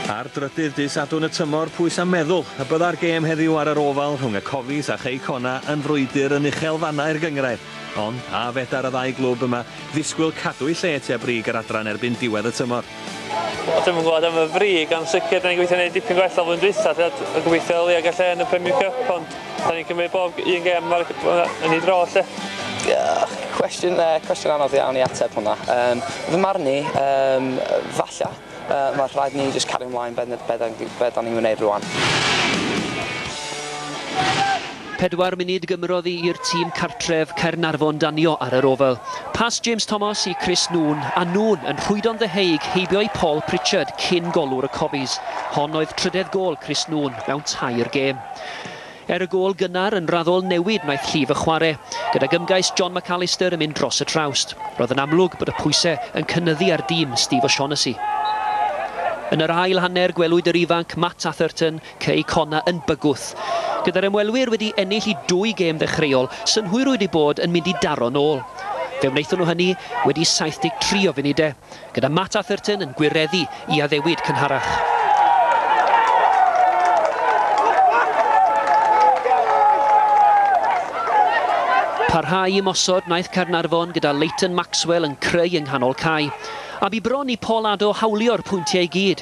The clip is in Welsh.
Ar drydydd dydd Sadwrn y tymor, pwy sa'n meddwl y bydda'r gêm heddiw ar yr ofal rhwng y Cofis a Chei Cona yn frwydr yn uchel fannau'r gynghrair? Ond, a fedar y ddau glwb yma ddisgwyl cadw'u lle tua brig yr adran erbyn diwedd y tymor? Wel dwi'm yn gwybod am y brig ond sicr da ni'n gweithio neud dipyn gwell o flwyddyn dwytha lle a gobeithio o leia gall e yn y Premier Cup ond da ni'n cymryd bob un gem ar yn ei dro lle. Diolch. Cwestiwn yy cwestiwn anodd iawn i ateb hwnna. Yym fy marn i yym falla yy ma' rhaid ni jyst cario mlaen be' ne- be' da ni be' da ni'n wneud rŵan. Pedwar munud gymrodd i i'r tîm cartref Caernarfon danio ar yr ofal. Pas James Thomas i Chris Noone, a Noone yn rhwydo'n ddeheuig heibio i Paul Pritchard cyn golwr y Cofies. Hon oedd trydedd gôl Chris Noone mewn tair gêm. Er y gôl gynnar, yn raddol newid wnaeth llif y chwarae, gydag ymgais John McAllister yn mynd dros y trawst. Roedd yn amlwg bod y pwysau yn cynyddu ar dîm Steve O'Shaughnessy. Yn yr ail hanner, gwelwyd yr ifanc Matt Atherton Cei Connah yn bygwth. Gyda'r ymwelwyr wedi ennill i dwy gêm ddechreuol, synhwyrwyd eu bod yn mynd i daro'n ôl. Fe wnaethon nhw hynny wedi 73 o funudau, gyda Matt Atherton yn gwireddu i addewid cynharach. Parhau ymosod wnaeth Caernarfon gyda Leighton Maxwell yn creu yng nghanol cae, a bu bron i Paul Addo hawlio'r pwyntiau i gyd.